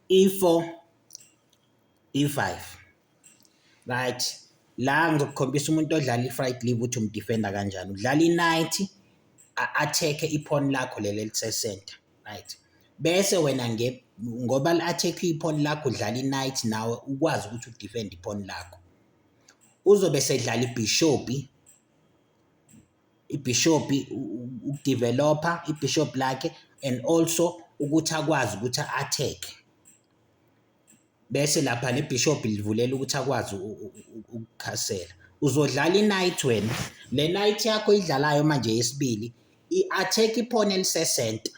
i-four i-five right la ngizokukhombisa umuntu odlala i-fright leave ukuthi umdifenda kanjani udlala i-night a-attack-e iphoni lakho leli elisesenta right bese wena nge ngoba li-attack-e iphoni lakho udlala i-night nawe ukwazi ukuthi udifende iphoni lakho uzobe esedlala ibhishopi ibhishobhi ukudevelopha ibhishobhi lakhe and also ukuthi akwazi ukuthi atheke bese lapha nebhishobhi livulela ukuthi akwazi ukukhasela uzodlala i-night wena le night yakho idlalayo manje yesibili i-attack iphone elisesenta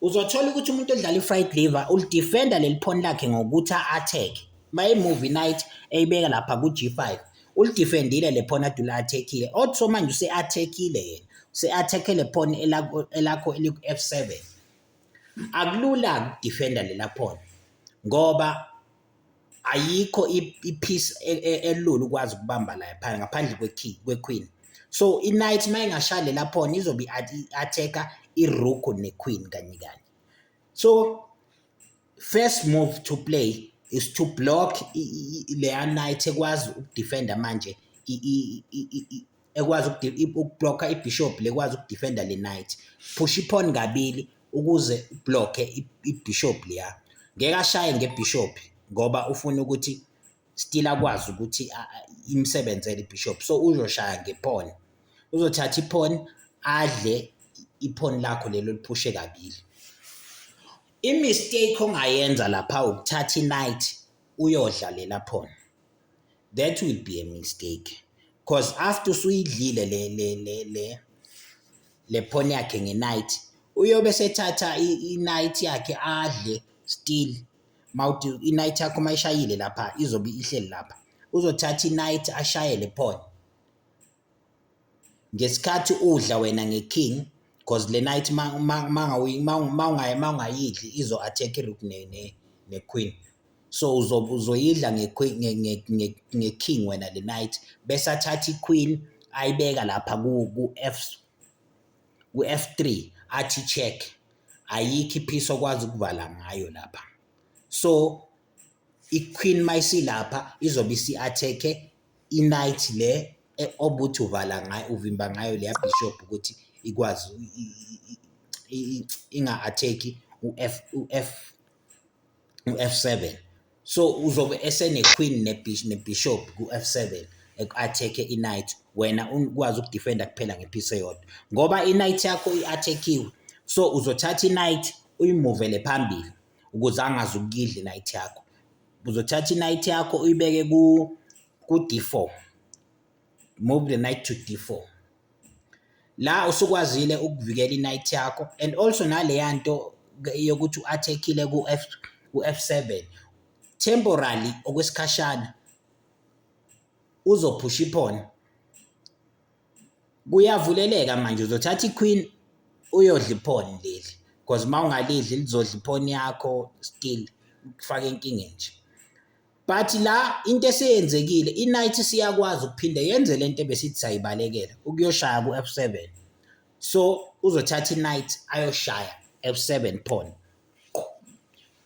uzothola ukuthi umuntu odlala i-fried liver ulidifenda leli phone lakhe ngokuthi a-atheke uma i-movie night eyibeka lapha ku-G5 ulidifendile le phone adula athekile othi so manje use-athekile yena use-atheke le phone elakho eliku-F7 akulula ukudifenda lela phone ngoba ayikho ipiece e, e, elula ukwazi ukubamba la phansi ngaphandle kwekey kwequeen so iknight uma ingashaya lela phone izobe i-attack-a irook nequeen kanye kanye so first move to play is to block leya knight ekwazi ukudefenda manje ekwazi ukublocker ibishop lekwazi ukudefenda le knight phusha iphone kabili ukuze ublocke ibishop leya ngeke ashaye ngebishop ngoba ufuna ukuthi still akwazi ukuthi imsebenzele ibishop so uzoshaya ngephone uzothatha iphone adle iphone lakho lelo liphushe kabili imistake ongayenza lapha ukuthatha inight uyodla lela phone that will be a mistake cause after usuyidlile le le le le le phone yakhe nge-night uyobe sethatha i-night yakhe adle still mawuthi i-night yakho uma ishayile lapha izobe ihleli lapha uzothatha i-night ashayele phone ngesikhathi udla wena ngeking because le night mawungayidli izo attack irook ne, ne, ne queen so uzoyidla ngeking wena le night bese athatha iqueen ayibeka lapha ku ku F ku F3 athi check ayikho iphisi okwazi ukuvala ngayo lapha so iQueen mayisilapha izobe isi-attack-e i-knight le e, obuthi uvala ngayo uvimba ngayo leya bishop ukuthi ikwazi inga-attack-i u-F u-F u-F7 so uzobe eseneQueen nebishop ku-F7 eku-attack-e i-knight wena ukwazi ukudefenda kuphela ngephisi eyodwa ngoba i-knight yakho i-attack-iwe so uzothatha i-knight uyimuvele phambili ukuze angazi ukuyidla i-night yakho. Uzothatha i-night yakho uyibeke ku-D4, move the night to D4. La usukwazile ukuvikela i-night yakho and also naleya nto yokuthi u-attack-ile ku-F ku-F7 temporarily okwesikhashana uzophusha iphone Kuyavuleleka manje uzothatha iQueen uyodla iphone leli because uma ungalidli lizodla iphone yakho still kufaka enkingeni nje. But la into eseyenzekile iNight siyakwazi ukuphinde yenze lento ebesithi sayibalekela ukuyoshaya ku-F7. So uzothatha iNight ayoshaya F7 phone.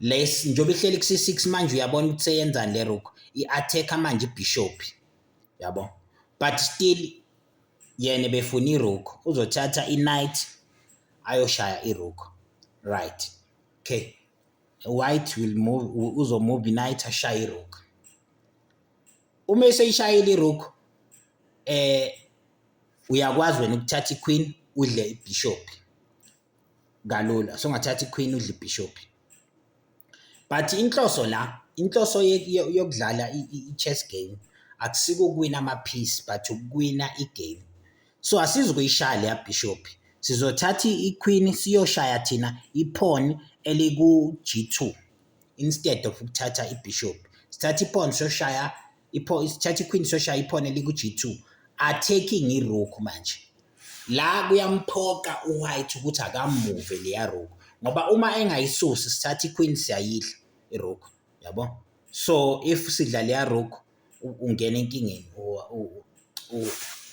Les njengoba ihleli kusi 6 manje uyabona ukuthi seyenzani le rook i-attacker manje ibishop yabo but still yena befuna irook uzothatha i-knight ayoshaya irook right okay white will move uzomove i-knight ashaye irook uma eseyishayile irook eh uyakwazi wena ukuthatha i-queen udle ibishop kalula so ngathatha iQueen udla iBishop but inhloso la inhloso yokudlala i-chess game akusiko ukuwina amaphisi but ukuwina igame so asizi kuyishaya leya bishop sizothatha iqueen siyoshaya thina iphoni eliku-g2 instead of ukuthatha ibishop sithatha iphoni soshaya ipho isithatha iQueen Sosha iphone liku-G2 are taking iRook manje la kuyamphoqa uWhite ukuthi akamuve leya Rook ngoba uma engayisusi sithatha iQueen siyayidla iRook yabo so if sidla leya Rook ungena enkingeni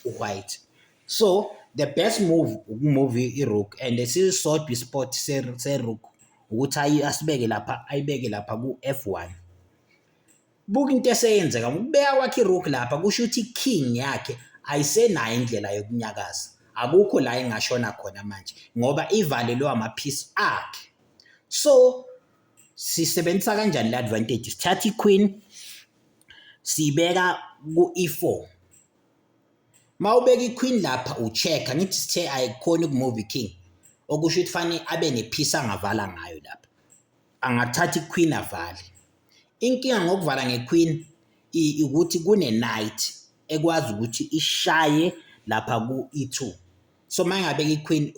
uWhite so the best move ukumove iRook and sisodwa ispot seRook ukuthi ayi asibeke lapha ayibeke lapha ku-F1 Buka into eseyenzeka ngokubeka kwakhe irook lapha kusho ukuthi king yakhe ayisenayo indlela yokunyakaza akukho la ingashona khona manje ngoba ivalelwe amaphisi akhe so sisebenzisa kanjani le advantage sithatha iqueen siyibeka ku-e4 mawubeka iqueen lapha ucheck ngithi sithe ayikhona ukumove king okusho ukuthi fanele abe nephisi angavala ngayo lapha angathatha iqueen avale Inkinga ngokuvala ngeQueen ukuthi kune-night ekwazi ukuthi ishaye lapha ku-E2. So uma ingabeka iQueen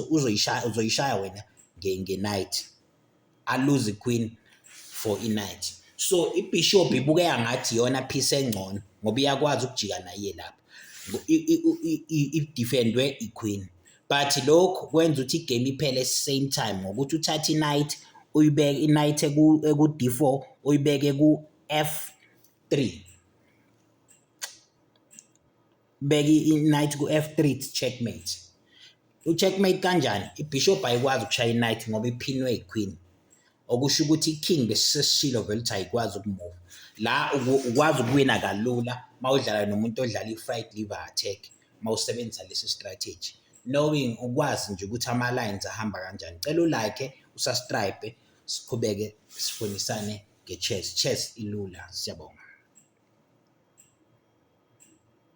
uzoyishaya uzoyishaya wena nge-night, aluze iQueen for i-night. So ibhishobhi ibukeka ngathi iyona piece engcono ngoba iyakwazi ukujika nayo iye lapho, idifendwe iQueen. but lokhu kwenza ukuthi igame iphele same time ngokuthi uthathe i-night uyibeke i-night eku-d4 uyibeke ku-f3 beke i-night ku-f3 checkmate u-checkmate kanjani ibishop ayikwazi ukushaya i-night ngoba iphinwe i-queen okusho ukuthi iking besiseshilo vele ukuthi ayikwazi ukumuva la ukwazi ukuwina kalula uma udlala nomuntu odlala i-fried liver attack uma usebenzisa lesi strategy knowing ukwazi nje ukuthi ama-lines ahamba kanjani cela ulike usastripe siqhubeke sifundisane nge-chess chess ilula siyabonga